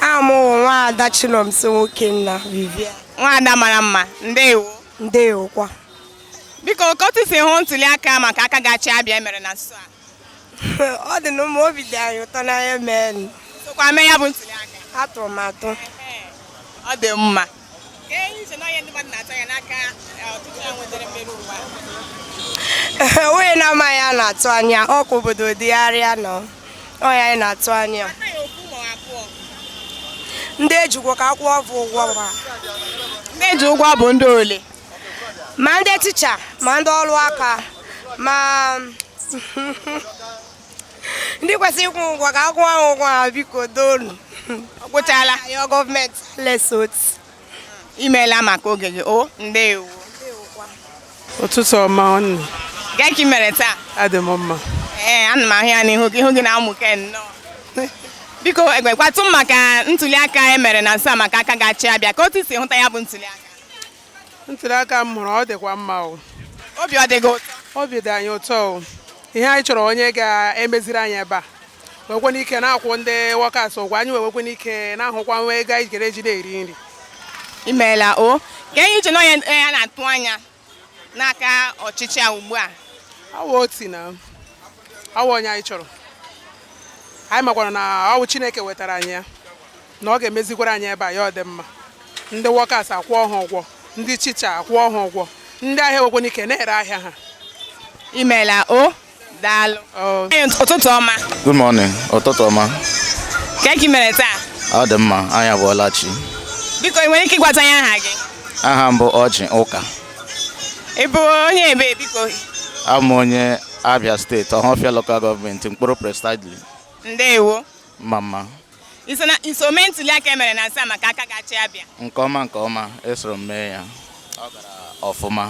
aha m wụ nwaada Chinomso Nwokenna Vivian nwaada mara mma ndewo ndewokwa biko ka otu i si hụ ntuli aka maka aka ga-achị abịa e mere na nso a ọ dịnụ mma obi dị anyị ụtọ n'anya mee sokwa mee ya bụ ntuli aka atụrụ m atụ ọ dị mma onye na-amaghị a na-atụ anya ọ ka obodo dịgharịa nụ ọ ya anyị na-atụ anya ndị eji ụgwọ ka akwụọ ha ụgwọ ha ndị eji ụgwọ bụ ndị ole ma ndị ticha ma ndị ọrụ aka ma ndị kwesịrị ịkwụ ụgwọ ka akwụọ ha ụgwọ ha biko doonu ọ gwụchala ya gọọmenti lesot imeela maka oge gị o ndewo ụtụtụ ọma nwanne kee ka ị mere taa adị m mma ee ana m ahụ ya n'ihu gị ihu gị na-amụke nnọọ biko gwakwatụ m maka ntuli aka e mere na nso a maka aka ga-achị abịa ka otu i si hụta ya bụ ntuli aka ntuli aka m hụrụ ọ dịkwa mma o obi ọ dị gị ụtọ obi dị anyị ụtọ o ihe anyị chọrọ onye ga-emeziri anyị ebe a nwekwanụ ike na-akwụ ndị wọkas ụgwọ anyị wee nwekwanụ ike na-ahụkwa nwa ego anyị jere eji na-eri nri imeela o kee ihe i che na onye onye a na-atụ anya n'aka ọchịchị a ugbu a ọ wụ Otti na ọ wụ onye anyị chọrọ anyị makwara na ọ wụ chineke wetara anyị ya na ọ ga-emezikwara anyị ebe a ya adị mma ndị wọkas akwụọ ha ụgwọ ndị chicha akwụọ ha ụgwọ ndị ahịa nwekwanụ ike na-ere ahịa ha imeela o daalụ ụtụtụ ọma good morning ụtụtụ ọma ka ị mere taa ọ dị mma anyị abọọla chi biko ị nwere ike ịgwata anyị aha gị aha m bụ Oji Ụka ị bụ onye ebe biko abụ m onye abia steeti ọhafịa lokal gọọmenti nkporo precisely ndewo mma mma iso na iso mee ntuli aka e mere na nso a maka aka ga-achị abịa nke ọma nke ọma esoro m mee ya ọ gara ọfụma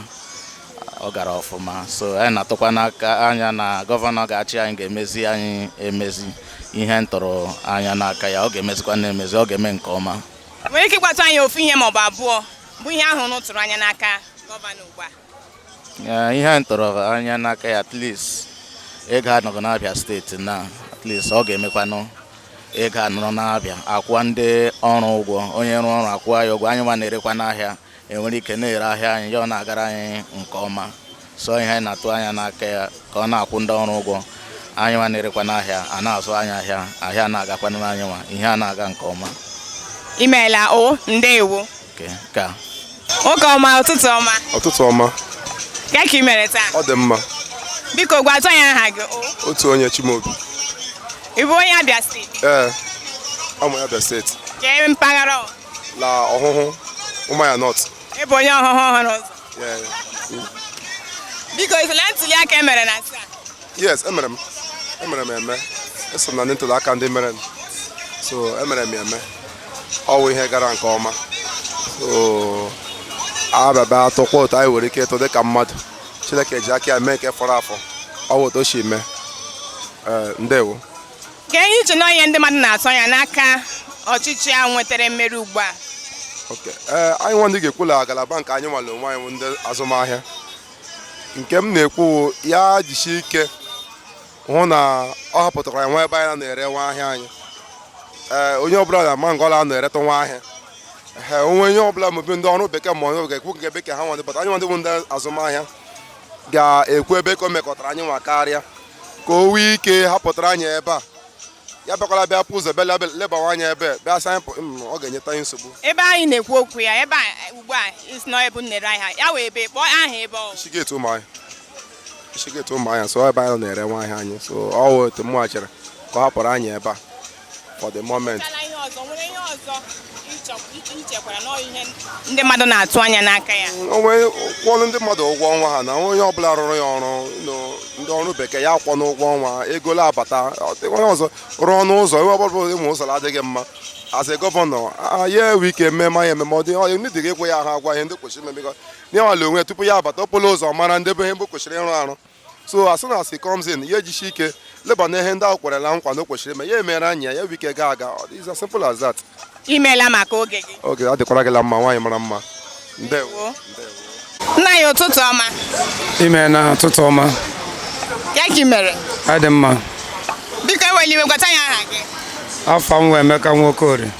ọ gara ọfụma so anyị na-atụkwa n'aka anya na gọvanọ ga-achị anyị ga-emezi anyị emezi ihe m tụrụ anya n'aka ya ọ ga-emezikwa na-emezi ọ ga-eme nke ọma nwere ike ịgwatụ anyị ofu ihe maọbụ abụọ bụ ihe ahụ unu tụrụ anya n'aka gọvanọ ugbu a ihe anyị tụrụ anya n'aka ya at least ego anọghị n'abịa steeti na at least ọ ga-emekwanụ ego anọrọ n'abịa akwụwa ndị ọrụ ụgwọ onye rụọ ọrụ akwụwa ya ụgwọ anyị nwa na-erekwanụ ahịa enwere ike na-ere ahịa anyị ya ọ na-agara anyị nke ọma so ihe anyị na-atụ anya n'aka ya ka ọ na-akwụ ndị ọrụ ụgwọ anyị nwa na-erekwanụ ahịa a na-azụ anyị ahịa ahịa na-agakwanụ anyị nwa ihe a na-aga nke ọma imeela o ndewo Nwoke ọma ụtụtụ ọma. Ụtụtụ ọma. Kee ka ị mere taa? Ọ dị mma. Biko gwatụ anyị aha gị. Otuonye Chimaobi. Ị bụ onye Abia steeti? Ee, amụ Abia steeti. Kee mpaghara ọ? La Ọhụhụ Ụmụahịa North. Ị bụ onye Ọhụhụ ọhụrụ ụzọ? Biko, i so na ntuli aka e mere na nso a? yes emere m emere m eme eso m na ndị ntuli aka ndị mere m so emere m eme ọ wụ ihe gara nke ọma so abịaba atụkwa otu anyị nwere ike ịtụ dịka mmadụ chineke ji aka ya mee nke fọrọ afọ ọ wụ otu o si mee ee ndewo kee ihe i che na ihe ndị mmadụ na-atụ anya n'aka ọchịchị a nwetara mmeri ugbu a Okay. ee anyị nwadị ga-ekwu la ngalaba nke anyị nwa l'onwe anyị bụ ndị azụmahịa nke m na-ekwu ya jisi ike hụ na ọ hapụtara anyị nwa ebe anyị na-ere nwa ahịa anyị ee onye ọbụla na-ama ngọla a na-eretụ nwa ahịa ee o nwee onye ọbụla maybe ndị ọrụ bekee ma onye ga-ekwu nke bekee ha nwadị but anyị nwadị bụ ndị azụmahịa ga-ekwu ebe ka o mekụtara anyị nwa karịa ka o nwee ike hapụtara anyị ebe a ya abịakwala bịa pụ ụzọ bịa lebawa anya ebe bịa sa anyị mm, ọ ga-enyeta anyị nsogbu ebe a ị na-ekwu okwu ya ebe ugbu a ị sị na ebe unu na-ere ahịa ọ wụ ebee kpọọ aha ebe ọ Ishi Gate Ụmụahịa Ishi Gate Ụmụahịa so ebe anyị na-ere nwa ahịa anyị so ọ wụ otu mụ chọrọ ka ọ hapụrụ anyị ebe a for the moment ndị mmadụ na-atụ anya n'aka ya o nwee kwụọ ndị mmadụ ụgwọ ọnwa ha na onye ọbụla rụrụ ya ọrụ ndị ọrụ bekee ya akwụọ ụgwọ ọnwa ego abata onye ọzọ rụọnụ ụzọ ebe ọbụla ụzọ ụmụ ụzọ adịghị mma as a gọvanọ ya enwe ike ememe anyị ememe ọ dị onye ndị dịghị ekwe ya ha agwa ihe ndị kwesịrị imeme gọ nwa l'onwe tupu ya abata okporo ụzọ mara ndị be ihe mgbe kwesịrị ịrụ arụ so as soon as he comes in ya ejishi ike leba na ihe ndị ahụ kwerela nkwa na o kwesịrị ime ya emere anyị ya enwe ike gaa aga it's as simple as that imeela maka oge gị ọ ga-adịkwara gị la mma nwaanyị mara mma ndewo nna anyị ụtụtụ ọma imeela ụtụtụ ọma kee ka ị mere adị mma biko ewela iwe gwatụ anyị aha gị afa m wụ Emeka Nwokorie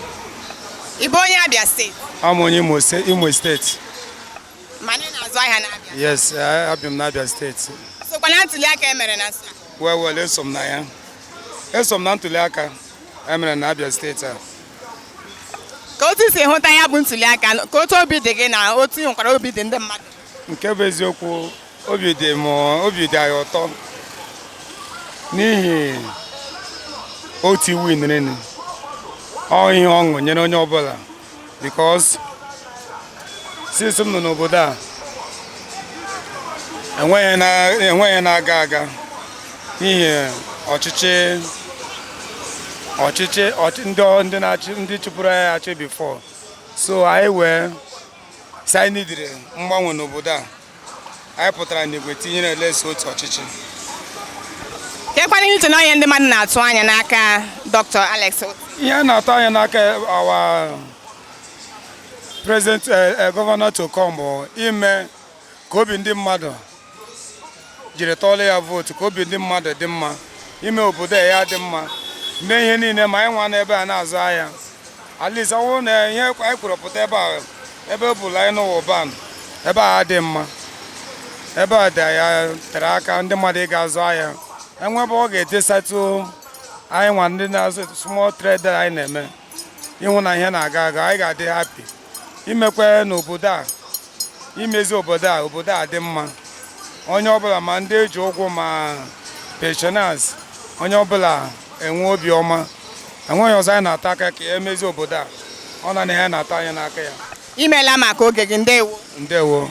ị bụ onye Abia steeti a m onye Imo ste- Imo steeti mana ị na-azụ ahịa n'Abia yes eh, ebi m n'Abia steeti i sokwa na ntuli aka e mere na nso a well eso m na ya eso m na ntuli aka e mere na Abia steeti a kee otu i si hụta ya bụ ntuli aka kee otu obi dị gị na otu i chekwara obi dị ndị mmadụ nke bụ eziokwu obi dị m obi dị anyị ụtọ n'ihi Otti winniri ọ ihe ọṅụ nyere onye ọbụla because since m nọ n'obodo a enweghị na- enweghị ihe na-aga aga n'ihi ọchịchị ọchịchị ọchị- ndị ọ- ndị na-achị ndị chịburu anyị achị before so anyị wee sị anyị nidiri mgbanwe n'obodo a anyị pụtara n'igwe tinyere alex otti ọchịchị kekwanụ uche na onye ndị mmadụ na-atụ anya n'aka dr alex otti ihe a na-atụ anya n'aka our president eh, eh, gọvanọ to come bụ ime ka obi ndị mmadụ jiri tụọlụ ya vootu ka obi ndị mmadụ dị mma ime obodo ya dị mma mee ihe niile ma anyị nwa n'ebe a na-azụ ahịa at least ọ bụrụ na ihe anyị kwuru pụta ebe a ebe ọ bụla anyị n'ubani ebe a dị mma ebe a dị ya tere aka ndị mmadụ ịga azụ ahịa enwee ebe ọ ga-etesatụ anyị nwa ndị na-azụ small trader anyị na-eme ịhụ na ihe na-aga aga anyị ga-adị happy imekwanụ obodo a imezi obodo a obodo a dị mma onye ọbụla ma ndị eji ụgwọ ma pensioners onye ọbụla enwe obi ọma enweghị ihe ọzọ anyị na-atụ anya karịa imezi obodo a ọ naanị ya a na-atụ anya n'aka ya imeela maka oge gị ndewo ndewo